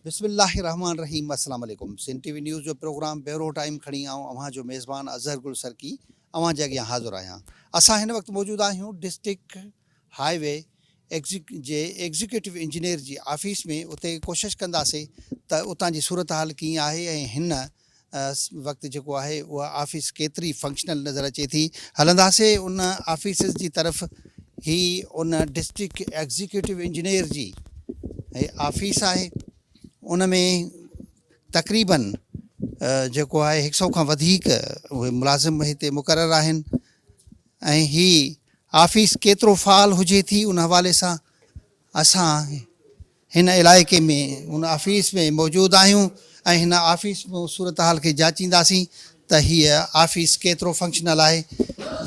بسم الله الرحمٰن الرحيم السلام عليڪم سنڌ ٽي وي نيوز جو پروگرام بيورو ٽائيم کڻي آئون اوهان جو ميزبان اظهر گل سرڪي اوهان جي اڳيان حاضر آهيان اسان هن وقت موجود آهيون ڊسٽرڪٽ هاء وي جي ايگزيڪيوٽو انجنيئر جي آفيس ۾ اتي ڪوشش ڪنداسين ته اتان جي صورتحال ڪيئن آهي ۽ هن وقت جيڪو آهي اها آفيس ڪيتري فنڪشنل نظر اچي ٿي هلنداسين ان آفيسز جي طرف هي ان ڊسٽرڪٽ ايگزيڪيوٽو انجنيئر جي هي آفيس آهي ان ۾ تقريبن جيڪو آهي هڪ سؤ کان وڌيڪ اهي ملازم هتي مقرر آهن ۽ هي آفيس ڪيترو فعال هجي ٿي ان حوالي سان اسان هن علائقي ۾ ان آفيس ۾ موجود آهيون ۽ هن آفيس ۾ صورتحال کي جاچينداسين ته هيء آفيس ڪيترو فنڪشنل آهي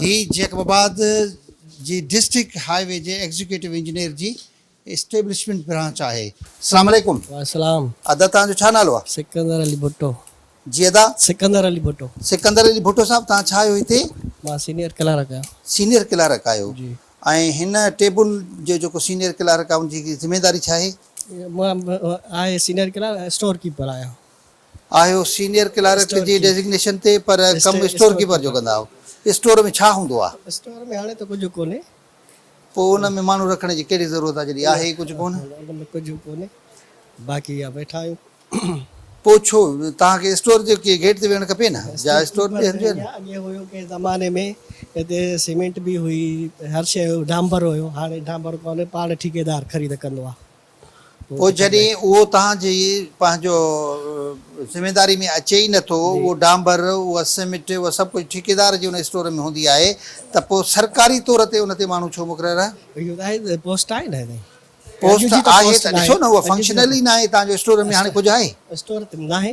هي جيڪب آباد جي ڊسٽرڪٽ هاء وي جي ايگزيڪيوٽو انجنيئر جي اسٽيبلشمينٽ برانچ آهي. اسلام عليڪم. وعليڪم السلام. ادا توهان جو ڇا نالو آ؟ سڪندر علي ڀٽو. جي ادا. سڪندر علي ڀٽو. سڪندر علي ڀٽو صاحب توهان ڇا آهيو هتي؟ مان سينيئر ڪلارڪ آهيان. سينيئر ڪلارڪ آهيو. جي. ۽ هن ٽيبل جو جيڪو سينيئر ڪلارڪ آهي ان جي ذميداري ڇا آهي؟ مان آهي سينيئر ڪلارڪ اسٽور ڪيپر آهيان. آهيو سينيئر ڪلارڪ جي ڊيزگنيشن تي پر ڪم اسٽور ڪيپر جو ڪندا آهيو. اسٽور ۾ ڇا هوندو آ؟ اسٽور ۾ هاڻي ته ڪجهه ڪونهي. پوء ان ۾ ماڻهو رکڻ جي ڪهڙي ضرورت آ جڏهن آهي ئي ڪجهه ڪونه. ان ۾ ڪجهه ڪونه باقي اها ويٺا آهيون. پوء ڇو توهان کي اسٽور جي گيٽ تي ويهڻ کپي نه جا اسٽور تي هلجي نه. اڳي هيو ڪنهن زماني ۾ هتي سيمينٽ به هئي هر شيء هيو ڊانبر هيو هاڻي ڊانبر ڪونه پاڻ ٺيڪيدار خريد ڪندو آ. پوء جڏهن اهو توهان جي پنهنجو ذميواري ۾ اچي ئي نه ٿو، اهو ڊانبر، اها سمٽ، اها سڀ ڪجهه ٺيڪيدار جي ان اسٽور ۾ هوندي آهي ته پوء سرڪاري طور تي ان تي ماڻهو ڇو مقرر آهي؟ اهو ته آهي پوسٽ آهي نه هتي. پوسٽ آهي ته ڏسو نه اها فنڪشنل ئي ناهي توهان جو اسٽور ۾ هاڻي ڪجهه آهي؟ اسٽور ته ناهي.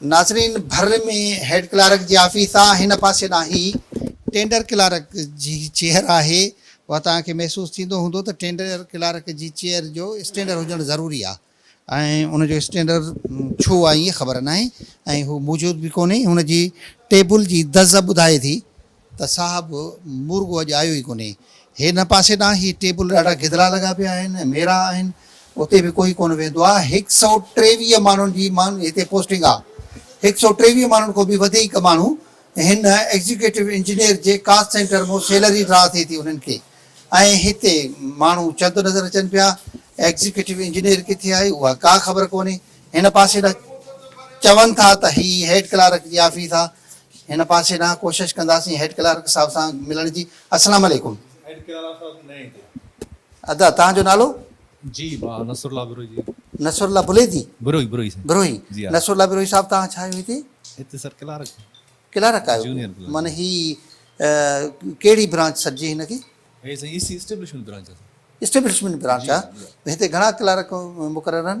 ناظرين ڀر ۾ هيڊ ڪلارڪ جي آفيس آ هن پاسي ڏانهن هي ٽينڊر ڪلارڪ جي چيئر آهي و توهان کي محسوس ٿيندو هوندو ته ٽينڊر ڪلارڪ جي چيئر جو اسٽينڊر هجڻ ضروري آ ۽ ان جو اسٽينڊر ڇو آ اهي خبر ناهي ۽ هو موجود به ڪونهي هن جي ٽيبل جي دز ٻڌائي ٿي ته صاحب مورڳو اڄ آيو ئي ڪونهي. هن پاسي ڏانهن هي ٽيبل ڏاڍا گدرا لڳا پيا آهن ۽ ميرا آهن. اتي به ڪوئي ڪونه ويندو آهي. هڪ سئو ٽيويهه ماڻهن جي ماڻهن هتي پوسٽنگ آهي. هڪ سئو ٽيويهه ماڻهن کان به وڌيڪ ماڻهو هن ايگزيڪيوٽو انجنيئر جي ڪاسٽ سينٽر مان سيلري ڊرا ٿئي ٿي انهن کي ۽ هتي ماڻهو چند نظر اچن پيا. ايگزيڪيوٽو انجنيئر ڪٿي آهي اها ڪا خبر ڪونهي. هن پاسي ڏانهن چون ٿا ته هي هيڊ ڪلارڪ جي آفيس آهي. هن پاسي ڏانهن ڪوشش ڪنداسين هيڊ ڪلارڪ صاحب سان ملڻ جي اسلام عليڪم. هيڊ ڪلارڪ صاحب نه ايندو. ادا توهان جو نالو؟ جي مان نصر الله بروهي جي. نصر الله بليدي؟ بروهي بروهي سائين. بروهي جي ها. نصر الله بروهي صاحب توهان ڇا آهيو هتي؟ هتي سر ڪلارڪ. ڪلارڪ آهيو. Junior clerk. معنيٰ هي ڪهڙي برانچ سڏجي هن کي؟ هي سائين اي سي اسٽيبلشمينٽ برانچ آهي سر. اسٽيبلشمينٽ برانچ آهي. جي جي. هتي گهڻا ڪلارڪ مقرر آهن؟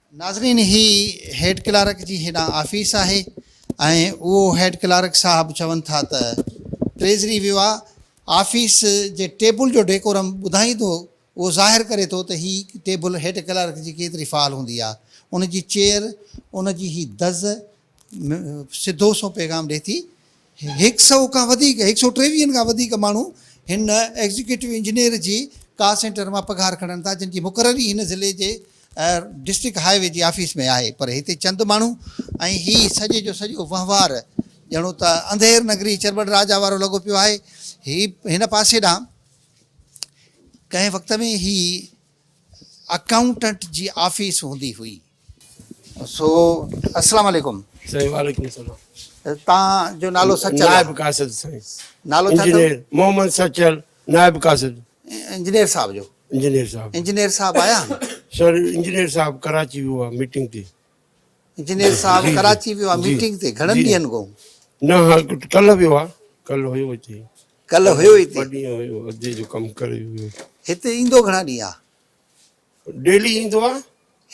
ناظرين هي هيڊ ڪلارڪ جي هيڏانهن آفيس آهي ۽ اهو هيڊ ڪلارڪ صاحب چون ٿا ته ٽريزري ويو آ آفيس جي ٽيبل جو ڊيڪورم ٻڌائين ٿو اهو ظاهر ڪري ٿو ته هي ٽيبل هيڊ ڪلارڪ جي ڪيتري فعال هوندي آ ان جي چيئر ان جي هي دز سڌو سنئون پيغام ڏئي ٿي. هڪ سئو کان وڌيڪ، هڪ سئو ٽيويهن کان وڌيڪ ماڻهو هن ايگزيڪيوٽو انجنيئر جي ڪال سينٽر مان پگهار کڻن ٿا جن جي مقرر ئي هن ضلعي جي ڊسٽرڪٽ هاء وي جي آفيس ۾ آهي پر هتي چند ماڻهو ۽ هي سڄي جو سڄو وهنوار ڄڻو ته انڌير نگري چرٻڙ راجا وارو لڳو پيو آهي. هي هن پاسي ڏانهن ڪنهن وقت ۾ هي اڪائونٽنٽ جي آفيس هوندي هئي. سو اسلام عليڪم سائين وعليڪم السلام تان جو نالو سچل نائب قاصد سائين نالو ڇا انجنيئر محمد سچل نائب قاصد انجنيئر صاحب جو انجنيئر صاحب انجنيئر صاحب آيا سر انجنيئر صاحب ڪراچي ويو آ ميٽنگ تي انجنيئر صاحب ڪراچي ويو آ ميٽنگ تي گھڻن ڏينھن کو نه ها ڪل ويو آ ڪل هيو هتي ڪل هيو هتي ٻه ڏينھن هيو ادي جو ڪم ڪري ويو هتي ايندو گھڻا ڏينھن آ ڊيلي ايندو آ.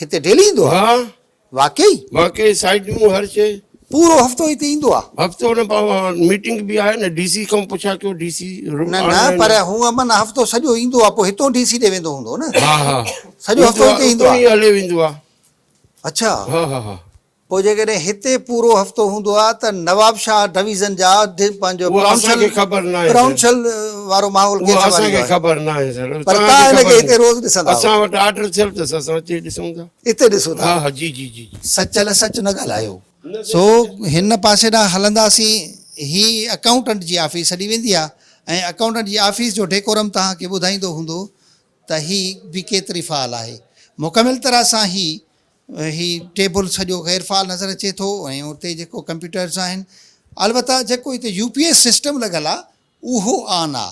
هتي ڊيلي ايندو آ؟ ها. واقعي؟ واقعي سائين جون هر شي. پورو هفتو هتي ايندو آ؟ هفتو نه پاء ميٽنگ به آهي نه ڊي سي کان پڇا ڪيو ڊي سي. نه نه پر هونء من هفتو سڄو ايندو آ پوء هتو ڊي سي ڏي ويندو هوندو نه. ها ها. سڄو هفتو هتي ايندو آ. اتي ئي هليو ويندو آ. اڇا. ها ها ها. پوء جيڪڏهن هتي پورو هفتو هوندو ها ته نوابشاهه ڊويزن جا پنهنجو پرونسل پرونسل وارو ماحول ڪيئن سنڀاليندو آهي پر توهان هن کي هتي روز ڏسندا آهيو اسان وٽ آرڊر ٿيل اٿس اسان اتي ڏسون ٿا اتي ڏسون ٿا ها جي جي جي سچل سچ نه ڳالهايو. سو هن پاسي ڏانهن هلنداسين هي اڪائونٽنٽ جي آفيس سڏي ويندي آهي ۽ اڪائونٽنٽ جي آفيس جو ڊيڪورم توهان کي ٻڌائيندو هوندو ته هي به ڪيتري فعال آهي مڪمل طرح سان هي هي ٽيبل سڄو غير فعال نظر اچي ٿو ۽ اتي جيڪو ڪمپيوٽرز آهن البته جيڪو هتي يو پي ايس سسٽم لڳل آ اهو آن آ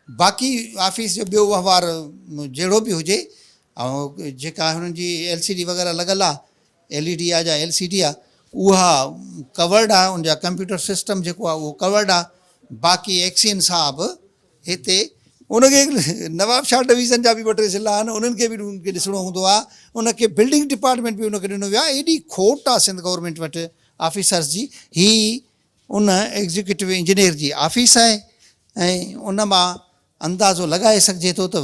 باقي آفيس جو ٻيو وهنوار جهڙو به هجي جيڪا هنن جي ايل سي ڊي وغيره لڳل آ ايل اي ڊي آ جا ايل سي ڊي آ اها ڪورڊ آ ان جا ڪمپيوٽر سسٽم جيڪو آ اهو ڪورڊ آ باقي ايڪسين صاحب هتي ان کي نوابشاهه ڊويزن جا به ٻه ٽي ضلعا آهن انهن کي به ان کي ڏسڻو هوندو آهي ان کي بلڊنگ ڊپارٽمينٽ به ان کي ڏنو ويو آهي ايڏي کوٽ آهي سنڌ گورنمينٽ وٽ آفيسرس جي هي ان ايگزيڪيوٽو انجنيئر جي آفيس آهي ۽ ان مان اندازو لڳائي سگهجي ٿو ته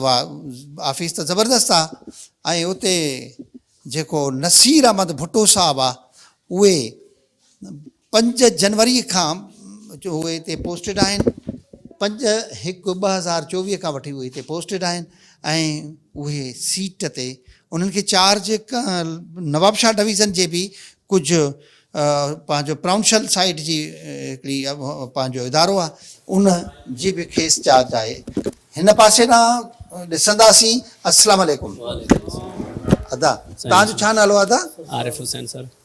آفيس ته زبردست آهي ۽ اتي جيڪو نصير احمد ڀٽو صاحب آهي اهي پنج جنوري کان جو هو هتي پوسٽيڊ آهن پنج هڪ ٻه هزار چوويهه کان وٺي اهي هتي پوسٽيڊ آهن ۽ اهي سيٽ تي انهن کي چارج نواب شاهه ڊويزن جي به ڪجهه پنهنجو پرائونشل سائيڊ جي هڪڙي پنهنجو ادارو آهي ان جي به کيس چارج آهي هن پاسي ڏانهن ڏسنداسين السلام عليڪم ادا تان جو ڇا نالو ادا عارف حسين سر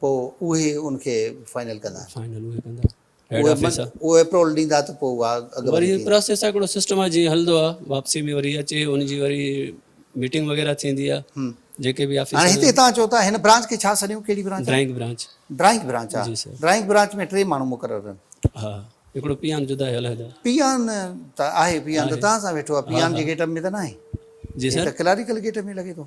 پوء اهي ان کي فائنل ڪندا. فائنل اهي ڪندا. هيڊ آفيس آ. اهي اپروول ڏيندا ته پوء اها اڳ وري هي پراسيس آ هڪڙو سسٽم آ جيئن هلندو آ واپسي ۾ وري اچي ان جي وري ميٽنگ وغيره ٿيندي آ جيڪي به آفيسر هاڻي هتي توهان چئو ٿا هن برانچ کي ڇا سڏيون ڪهڙي branch drawing branch drawing branch آ جي سر ڊرائنگ برانچ ۾ ٽي ماڻهو مقرر آهن ها هڪڙو پيان جدا هي علحده پيان ته آهي پيان ته توهان سان ويٺو آ پيان جي گيٽ اپ ۾ ته ناهي جي سر هي ته ڪلاريڪل گيٽ ۾ لڳي ٿو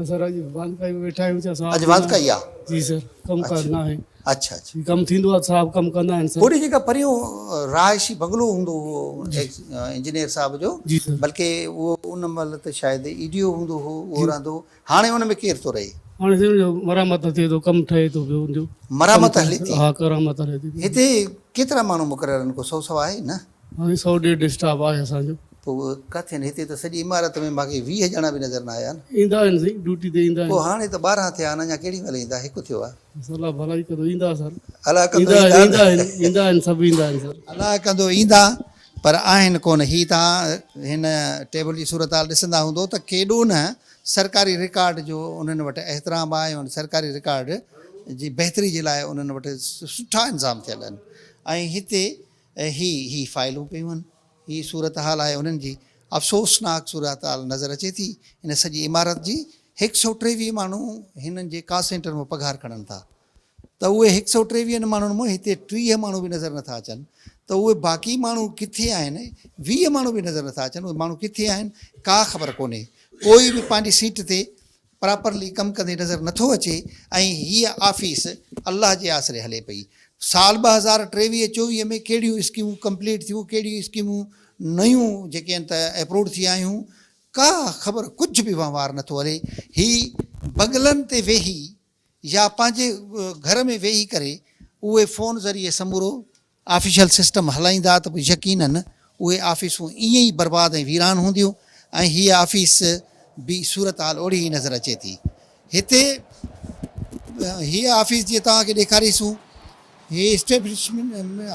اسان اڄ وانڪائي ۾ ويٺا آهيون سر اڄ وانڪائي آ جي سر ڪم ڪار نه آهي اچھا اچھا ڪم ٿيندو آ صاحب ڪم ڪندا آهن سر هوڏي جيڪا پريون رهائشي بنگلو هوندو هو انجنيئر صاحب جو بلڪه اهو ان مهل ته شايد اي ڊي او هوندو هو اهو رهندو هاڻي ان ۾ ڪير ٿو رهي هاڻي سر جو مرمت ٿئي ٿو ڪم ٺهي ٿو پيو ان جو مرمت هلي ٿي ها ڪرامت هلي ٿي هتي ڪيترا ماڻهو مقرر آهن ڪو سو سوا آهي نه هاڻي سؤ ڏيڍ اسٽاف آهي اسان جو. پوء اهي ڪاٿي آهن؟ هتي ته سڄي عمارت ۾ مان کي ويهه ڄڻا به نظر نه آيا آهن. ايندا آهن سائين، ڊيوٽي تي ايندا آهن. پوء هاڻي ته ٻارهن ٿيا آهن، اڃا ڪهڙي مهل ايندا؟ هڪ ٿيو آهي. بس الله ڀلائي ڪندو، ايندا سر. الاء ڪندو ايندا؟ ايندا آهن، ايندا آهن، ايندا آهن، سڀ ايندا آهن سر. الاء ڪندو ايندا، پر آهن ڪونه. هي توهان هن ٽيبل جي صورتحال ڏسندا هوندؤ ته ڪيڏو نه سرڪاري رڪارڊ جو انهن وٽ احترام آهي ۽ سرڪاري رڪارڊ جي بهتري جي لاء انهن وٽ سٺا انتظام ٿيل آهن ۽ هتي ۽ هي هي فائلون پيون هن. هي صورتحال آهي انهن جي. افسوسناڪ صورتحال نظر اچي ٿي. ان سڄي عمارت جي هڪ سئو ٽيويهه ماڻهو هنن جي ڪا سينٽر مان پگهار کڻن ٿا ته اهي هڪ سئو ٽيويهن ماڻهن مان هتي ٽيهه ماڻهو به نظر نٿا اچن ته اهي باقي ماڻهو ڪٿي آهن؟ ويهه ماڻهو به نظر نٿا اچن اهي ماڻهو ڪٿي آهن؟ ڪا خبر ڪونهي. ڪوئي به پنهنجي سيٽ تي پراپرلي ڪم ڪندي نظر نه ٿو اچي ۽ هيء آفيس الله جي آسري هلي پئي. سال ٻه هزار ٽيويهه چوويهه ۾ ڪهڙيون اسڪيمون ڪمپليٽ ٿيون ڪهڙيون اسڪيمون نيون جيڪي آهن ته ايپروڊ ٿي آيون ڪا خبر ڪجهه به وهنوار نه ٿو هلي هي بغلن تي ويهي يا پنهنجي گهر ۾ ويهي ڪري اهي فون ذريعي سمورو آفيشل سسٽم هلائيندا ته پوء يقينن اهي آفيسون ائين ئي برباد ۽ ويران هونديون ۽ هيء آفيس به صورتحال اوڙي ئي نظر اچي ٿي. هتي هيء آفيس جيئن توهان کي ڏيکاريسون هي اسٽيبلشمينٽ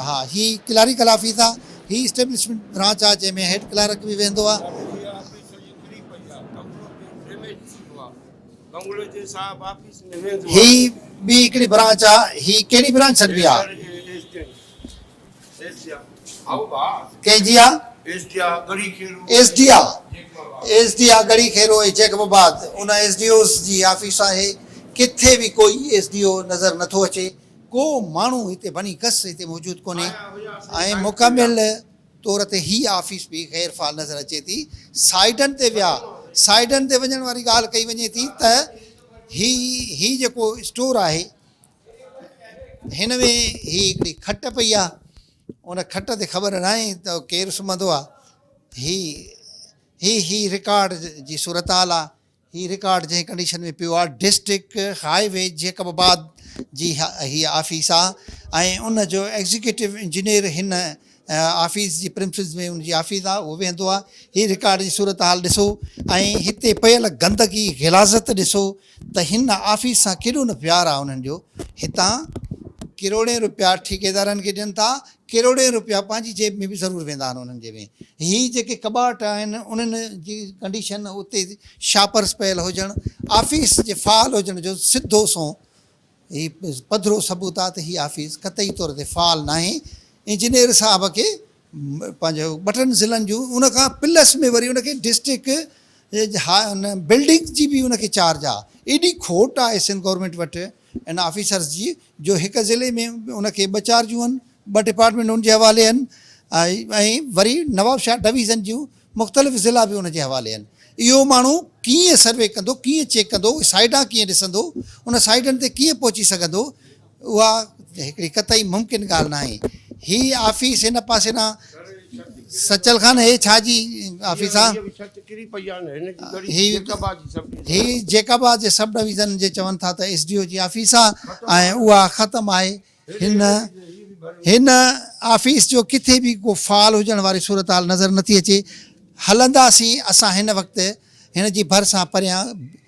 ها هي ڪلاريڪل آفيس آ هي اسٽيبلشمينٽ برانچ آ جنهن ۾ هيڊ ڪلارڪ به ويهندو آ. هي ٻي هڪڙي برانچ آ. هي ڪهڙي برانچ سڏبي آ. ڪنهن جي آ. ايس ڊي آ ڳڙهي کيرو ايس ڊي آ ايس ڊي آ ڳڙهي کيرو ۽ جيڪب آباد ان ايس ڊي اوز جي آفيس آهي ڪٿي به ڪوئي ايس ڊي او نظر نه ٿو اچي ڪو ماڻهو هتي بني گس هتي موجود ڪونهي ۽ مڪمل طور تي هي آفيس به غير فعال نظر اچي ٿي. سائيڊن تي ويا، سائيڊن تي وڃڻ واري ڳالهه ڪئي وڃي ٿي ته هي هي جيڪو اسٽور آهي هن ۾ هي هڪڙي کٽ پئي آهي ان کٽ تي خبر ناهي ته ڪير سمهندو آهي هي هي هي رڪارڊ جي صورتحال آهي هي رڪارڊ جنهن ڪنڊيشن ۾ پيو آهي district highway Jacobabad جي هي آفيس آهي ۽ ان جو ايگزيڪيوٽو انجنيئر هن آفيس جي پريمسز ۾ ان جي آفيس آهي اهو ويهندو آهي هي رڪارڊ جي صورتحال ڏسو ۽ هتي پيل گندگي غلاظت ڏسو ته هن آفيس سان ڪيڏو نه پيار آهي انهن جو هتان ڪروڙين روپيا ٺيڪيدارن کي ڏين ٿا ڪروڙين روپيا پنهنجي جيب ۾ به ضرور ويندا آهن انهن جي ۾ هي جيڪي ڪٻاٽ آهن انهن جي ڪنڊيشن اتي شاپرس پيل هجڻ آفيس جي فعال هجڻ جو سڌو سنئون هي پڌرو ثبوت آهي ته هي آفيس قطعي طور تي فعال ناهي انجنيئر صاحب کي پنهنجو ٻه ٽن ضلعن جون ان کان پلس ۾ وري ان کي ڊسٽرڪ بلڊنگ جي به ان کي چارج آهي ايڏي کوٽ آهي سنڌ گورنمينٽ وٽ ان آفيسرز جي جو هڪ ضلعي ۾ ان کي ٻه چار جون ٻه ڊپارٽمينٽ ان جي حوالي آهن ۽ وري نوابشاهه ڊويزن جون مختلف ضلعا به ان جي حوالي آهن اهو ماڻهو ڪيئن سروي ڪندو ڪيئن چيڪ ڪندو اهي سائيڊان ڪيئن ڏسندو ان سائيڊن تي ڪيئن پهچي سگهندو اها هڪڙي قطعي ممڪن ڳالهه ناهي هي آفيس هن پاسي ڏانهن سچل خان هي ڇا جي آفيس آ هي هي جيڪب آ جي سب ڊويزن جي چون ٿا ته ايس ڊي او جي آفيس آ ۽ اها ختم آهي هن هن آفيس جو ڪٿي به ڪو فعال هجڻ واري صورتحال نظر نٿي اچي هلنداسين اسان هن وقت هن جي ڀر سان پريان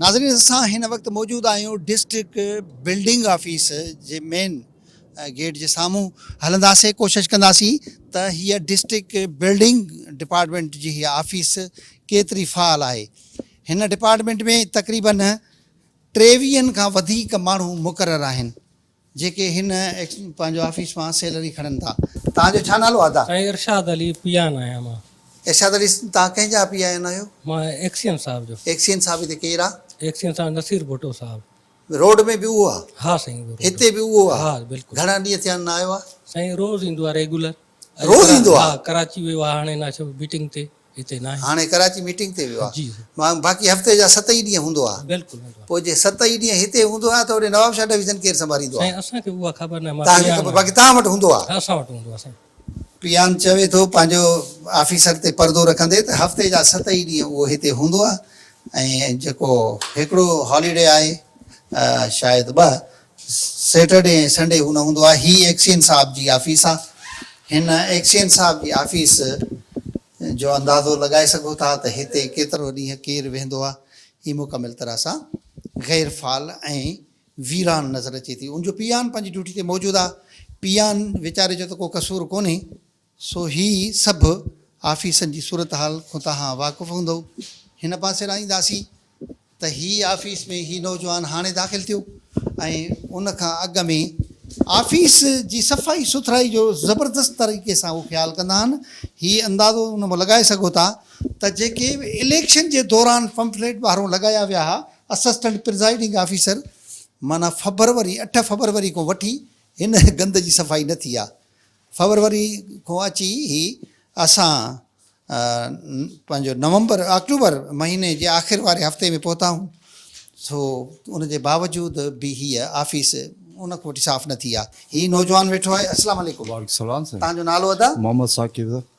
ناظرين اسان هن وقت موجود آهيون ڊسٽرڪٽ بلڊنگ آفيس جي مين گيٽ جي سامهون هلنداسين ڪوشش ڪنداسين ته هيء ڊسٽرڪٽ بلڊنگ ڊپارٽمينٽ جي هيء آفيس ڪيتري فعال آهي هن ڊپارٽمينٽ ۾ تقريبن ٽيويهن کان وڌيڪ ماڻهو مقرر آهن جيڪي هن پنهنجو آفيس مان سيلري کڻن ٿا. توهان جو ڇا نالو آهي ادا؟ سائين ارشاد علي پيان آهيان مان. ارشاد علي توهان ڪنهن جا پي آهيان آهيو؟ مان ايڪسين صاحب جو. ايڪسين صاحب هتي ڪير آ؟ ايڪسين صاحب نصير ڀٽو صاحب. روڊ ۾ به اهو آ؟ ها سائين اهو روڊ. هتي به اهو آ؟ ها بلڪل. گهڻا ڏينهن ٿيا آهن نه آيو آ؟ سائين روز ايندو آ ريگولر. روز ايندو آ؟ ها ڪراچي ويو آ هاڻي ناشو ميٽنگ تي. هاڻي ڪراچي ميٽنگ تي ويو آهي، باقي هفتي جا ست ئي ڏينهن هوندو آهي، پوء جي ست ئي ڏينهن هتي هوندو آهي ته هوڏي نوابشاهه ڊويزن ڪير سنڀاليندو آهي؟ تهانکي خبر باقي توهان وٽ هوندو آهي. پيان چوي ٿو پنهنجو آفيسر تي پردو رکندي ته هفتي جا ست ئي ڏينهن اهو هتي هوندو آهي ۽ جيڪو هڪڙو هاليڊي آهي شايد ٻه سيٽرڊي ۽ سنڊي هو نه هوندو آهي. هي ايڪسچينج صاحب جي آفيس آ. هن ايڪسچينج صاحب جي آفيس جو اندازو لڳائي سگهو ٿا ته هتي ڪيترو ڏينهن ڪير ويهندو آ. هي مڪمل طرح سان غير فعال ۽ ويران نظر اچي ٿي. ان جو پيئان پنهنجي ڊيوٽي تي موجود آ. پيئان ويچاري جو ته ڪو قصور ڪونهي. سو هي سڀ آفيسن جي صورتحال کون تهان واقف هوندؤ. هن پاسي ڏانهن اينداسين ته هي آفيس ۾ هي نوجوان هاڻي داخل ٿيو ۽ ان کان اڳ ۾ آفيس جي صفائي سٿرائي جو زبردست طريقي سان اهو خيال ڪندا آهن. هي اندازو ان مان لڳائي سگهو ٿا ته جيڪي اليڪشن جي دوران پمفليٽ ٻاهرون لڳايا ويا ها، اسسٽنٽ پرزائيڊنگ آفيسر معنيٰ فبروري اٺ فبروري کون وٺي هن گند جي صفائي نه ٿي آهي. فبروري کان اچي هي اسان پنهنجو نومبر آڪٽوبر مهيني جي آخر واري هفتي ۾ پهتائون سو ان جي باوجود به هيء آفيس ان کان وٺي صاف نه ٿي آهي. هي نوجوان ويٺو آهي. السلام عليڪم. وعليڪم السلام سائين. تهان جو نالو ادا؟ محمد ثاقب.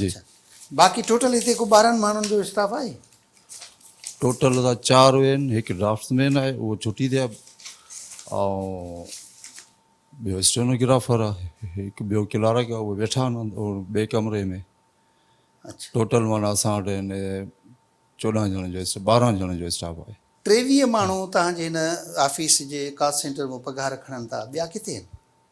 جي باقي ٽوٽل هتي ڪو ٻارهن ماڻهن جو اسٽاف آهي؟ ٽوٽل اسان چار اهن هڪ ڊرافٽس مين آهي اهو ڇٽي تي آهي ۽ ٻيو اسٽينوگرافر آهي هڪ ٻيو ڪلارڪ آهي اهي ويٺا آهن ٻئي ڪمري ۾ ٽوٽل مانا اسان وٽ هن چوڏهن ڄڻن جو ٻارهن ڄڻن جو اسٽاف آهي ٽيويهه ماڻهو توهان جي هن آفيس جي ڪال سينٽر مان پگهار کڻن ٿا ٻيا ڪٿي آهن؟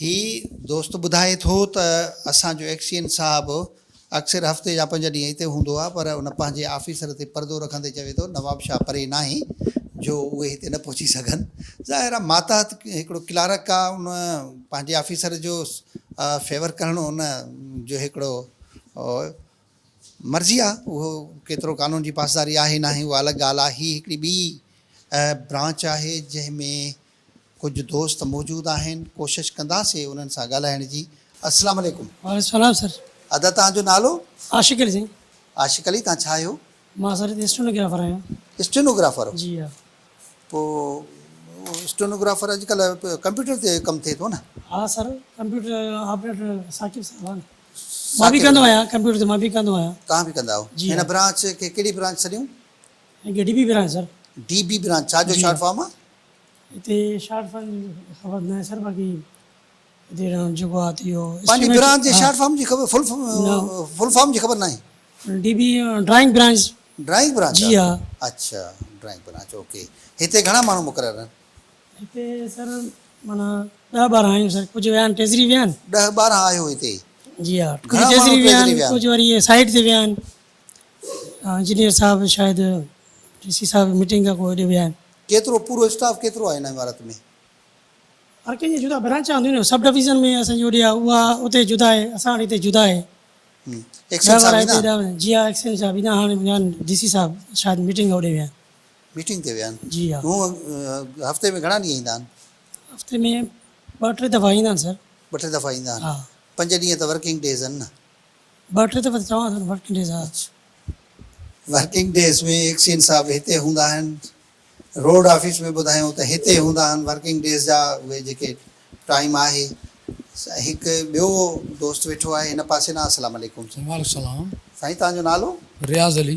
هي دوست ٻڌائي ٿو ته اسان جو ايڪسچينج صاحب اڪثر هفتي جا پنج ڏينهن هتي هوندو آهي پر ان پنهنجي آفيسر تي پردو رکندي چوي ٿو نواب شاهه پري ناهي جو اهي هتي نه پهچي سگهن. ظاهر آهي ماتحت هڪڙو ڪلارڪ آهي ان پنهنجي آفيسر جو فيور ڪرڻ ان جو هڪڙو مرضي آ اهو ڪيترو قانون جي پاسداري آهي ناهي اها الڳ ڳالهه آ هي هڪڙي ٻي برانچ آهي جنهن ۾ ڪجهه دوست موجود آهن ڪوشش ڪنداسي انهن سان ڳالهائڻ جي السلام عليڪم. وعليڪم السلام سر. ادا توهان جو نالو؟ عاشق علي سائين. عاشق علي توهان ڇا آهيو؟ مان سر اسٽينوگرافر آهيان. اسٽينوگرافر؟ جي ها. پوء اسٽينوگرافر اڄڪلهه ڪمپيوٽر تي ڪم ٿئي ٿو نه؟ ها سر ڪمپيوٽر آپريٽر ثاقب صاحب آ نه. مان به ڪندو آهيان ڪمپيوٽر تي مان به ڪندو آهيان. توهان به ڪندا آهيو هن برانچ کي ڪهڙي برانچ سڏيون؟ هن کي D B branch sir. D B branch ڇا جو شارٽ فارم آهي؟ هتي شارٽ فارم جي خبر ناهي سر باقي هتي جيڪو آهي ته اهو. پنهنجي برانچ جي شارٽ فارم جي خبر فل فل فارم جي خبر ناهي؟ D B drawing branch. Drawing branch جي ها. اڇا ڊرائنگ برانچ اوڪي هتي گهڻا ماڻهو مقرر آهن؟ هتي سر معنيٰ ڏهه ٻارهن آهيون سر ڪجهه ويا آهن ٽيزري ويا آهن. ڏهه ٻارهن آهيو هتي. جي ها ڪجهه ٽيزري ويا آهن ڪجهه وري سائيٽ تي ويا آهن انجنيئر صاحب شايد ڊي سي صاحب ميٽنگ کان پوء هوڏي ويا آهن. ڪيترو پورو اسٽاف ڪيترو آهي هن عمارت ۾؟ هر ڪنهن جي جدا برانچا هونديون نه سب ڊويزن ۾ اسان جي هوڏي آهي اها اتي جدا آهي اسان وٽ هتي جدا آهي ڏهه ٻارهن هتي ڏهه جي ها ايڪسچينج صاحب ايندا هاڻي ويا آهن ڊي سي صاحب شايد ميٽنگ کان هوڏي ويا آهن. ميٽنگ تي ويا آهن. جي ها. هو هفتي ۾ گهڻا ڏينهن ايندا آهن؟ هفتي ۾ ٻه ٽي دفعا ايندا آهن سر. ٻه ٽي دفعا ايندا آهن. ها. پنج ڏينهن ته ورڪنگ ڊيز آهن نه؟ ٻه ٽي دفعا ته چوان ٿو نه ورڪنگ ڊيز ها. اڇا. ورڪنگ ڊيز ۾ ايڪسچينج صاحب هتي هوندا آهن. روڊ آفيس ۾ ٻڌايو ته هتي هوندا آهن ورڪنگ ڊيز جا اهي جيڪي ٽائيم آهي. هڪ ٻيو دوست ويٺو آهي هن پاسي ڏانهن السلام عليڪم. وعليڪم السلام. سائين توهان جو نالو؟ رياض علي.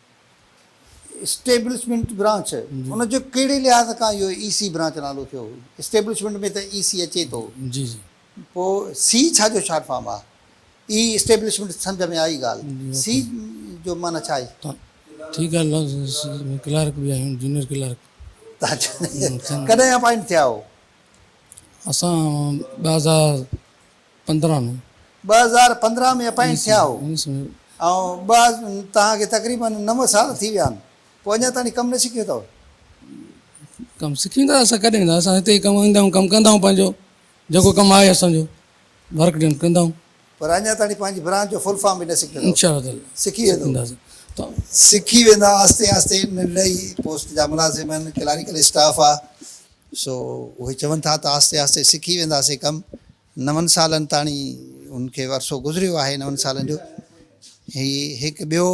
اسٽيبلشمينٽ برانچ ان جو ڪهڙي لحاظ کان اهو اي سي برانچ نالو ٿيو اسٽيبلشمينٽ ۾ ته اي سي اچي ٿو پوء سي ڇا جو شارٽ فارم آهي اي اسٽيبلشمينٽ سمجهه ۾ آئي ڳالهه سي جو معنيٰ ڇا آهي ٺيڪ آهي لفظ ڪلارڪ به آهيون جونيئر ڪلارڪ ڪڏهن اپائنٽ ٿيا هو اسان ٻه هزار پندرهن ۾ ٻه هزار پندرهن ۾ اپائنٽ ٿيا هو ۽ ٻه توهان کي تقريباً نو سال ٿي ويا آهن پوء اڃا تائين ڪم نه سکيو اٿو؟ ڪم سکيون ته اسان ڪڏهن ويندا اسان هتي ئي ڪم ايندا آهيون ڪم ڪندا آهيون پنهنجو جيڪو ڪم آهي اسان جو ورڪ ڊن ڪندا آهيون. پر اڃا تائين پنهنجي برانچ جو فل فارم به نه سکيو اٿو؟ سکي ويندو. سکي ويندا آهستي آهستي ننڍڙي پوسٽ جا ملازم آهن ڪلاريڪل اسٽاف آهي سو اهي چون ٿا ته آهستي آهستي سکي وينداسين ڪم نون سالن تاڻي هن کي عرصو گذريو آهي نون سالن جو هي هڪ ٻيو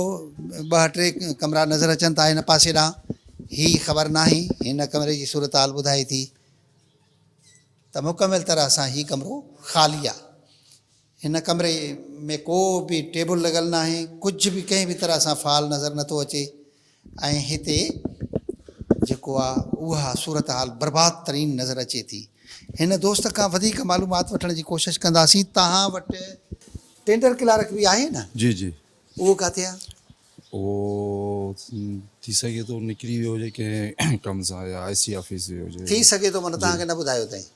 ٻه ٽي ڪمرا نظر اچن ٿا هن پاسي ڏانهن هي خبر ناهي هن ڪمري جي صورتحال ٻڌائي ٿي ته مڪمل طرح سان هي ڪمرو خالي آهي هن ڪمري ۾ ڪو به ٽيبل لڳل ناهي ڪجهه به ڪنهن به طرح سان فال نظر نٿو اچي ۽ هتي جيڪو آ اها صورتحال برباد ترين نظر اچي ٿي. هن دوست کان وڌيڪ معلومات وٺڻ جي ڪوشش ڪنداسين. توهان وٽ ٽينڊر ڪلارڪ به آهي نه؟ جي جي. اهو ڪاٿي آ؟ اهو ٿي سگهي ٿو نڪري ويو هجي ڪنهن ڪم سان يا آء سي آفيس ويو هجي. ٿي سگهي ٿو معنيٰ توهان کي نه ٻڌايو اٿئين.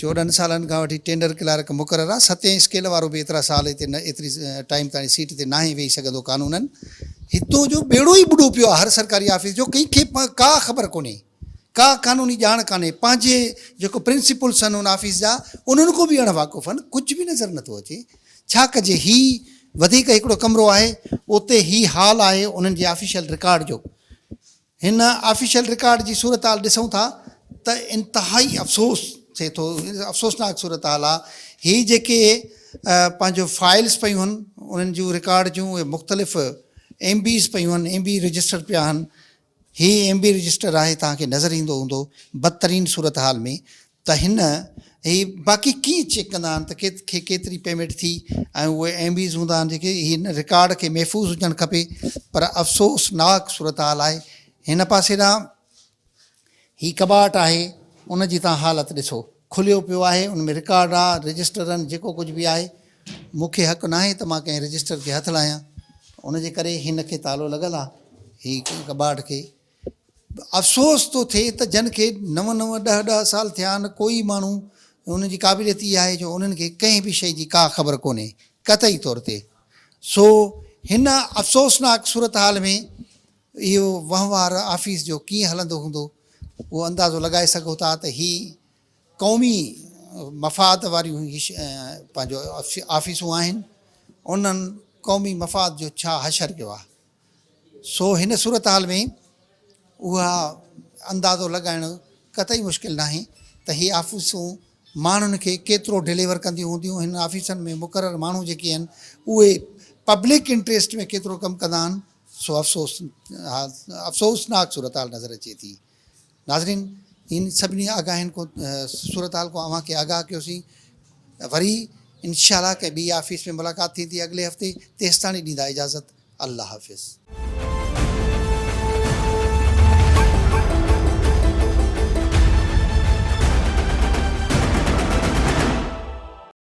چوڏهن سالن کان وٺي ٽينڊر ڪلارڪ مقرر آ، ستين اسڪيل وارو به ايترا سال هتي نه ايتري ٽائيم تائين سيٽ تي ناهي ويهي سگهندو قانونن هتو جو ٻيڙو ئي ٻڏو پيو آ هر سرڪاري آفيس جو ڪنهن کي ڪا خبر ڪونهي ڪا قانوني ڄاڻ ڪانهي پنهنجي جيڪو پرنسپلس ان ان آفيس جا انهن کون به اڻ واقف ان ڪجهه به نظر نٿو اچي ڇا ڪجي هي وڌيڪ هڪڙو ڪمرو آهي اتي هي هال آهي انهن جي آفيشل رڪارڊ جو هن آفيشل رڪارڊ جي صورتحال ڏسون ٿا ته انتهائي افسوس ٿئي ٿو افسوسناڪ صورتحال آ هي جيڪي پنهنجو فائلز پيون هن انهن جون رڪارڊ جون اهي مختلف ايم بيز پيون هن ايم بي رجسٽر پيا هن هي ايم بي رجسٽر آهي توهان کي نظر ايندو هوندو بدترين صورتحال ۾ ته هن هي باقي ڪيئن چيڪ ڪندا آهن ته کي ڪيتري پيمينٽ ٿي ۽ اهي ايم بيز هوندا آهن جيڪي هن رڪارڊ کي محفوظ هجڻ کپي پر افسوس ناڪ صورتحال آهي هن پاسي ڏانهن هي ڪٻاٽ آهي ان جي تان حالت ڏسو کليو پيو آهي ان ۾ رڪارڊ آ رجسٽرن جيڪو ڪجهه به آهي مون کي حق ناهي ته مان ڪنهن رجسٽر کي هٿ لاهيان ان جي ڪري هن کي تالو لڳل آ هي ڪٻاٽ کي افسوس ٿو ٿئي ته جن کي نو نو ڏهه ڏهه سال ٿيا آهن ڪو ئي ماڻهو انهن جي قابليت اها آهي جو انهن کي ڪنهن به شيء جي ڪا خبر ڪونهي قطعي طور تي سو هن افسوسناڪ صورتحال ۾ اهو وهنوار آفيس جو ڪيئن هلندو هوندو اهو اندازو لڳائي سگهو ٿا ته هي قومي مفاد واريون پنهنجو آفيسون آهن انهن قومي مفاد جو ڇا حشر ڪيو آهي سو هن صورتحال ۾ اها اندازو لڳائڻ قطعي مشڪل ناهي ته هي آفيسون ماڻهن کي ڪيترو ڊليور ڪنديون هونديون، هنن آفيسن ۾ مقرر ماڻهو جيڪي آهن اهي پبلڪ انٽريسٽ ۾ ڪيترو ڪم ڪندا آهن، سو افسوسناڪ صورتحال نظر اچي ٿي. ناظرين ان سڀني آگاهين ڪو صورتحال کان اوهان کي آگاهه ڪيوسين وري انشاء الله ڪنهن ٻي آفيس ۾ ملاقات ٿيندي اڳلي هفتي تيستاڻي ڏيندا اجازت الله حافظ.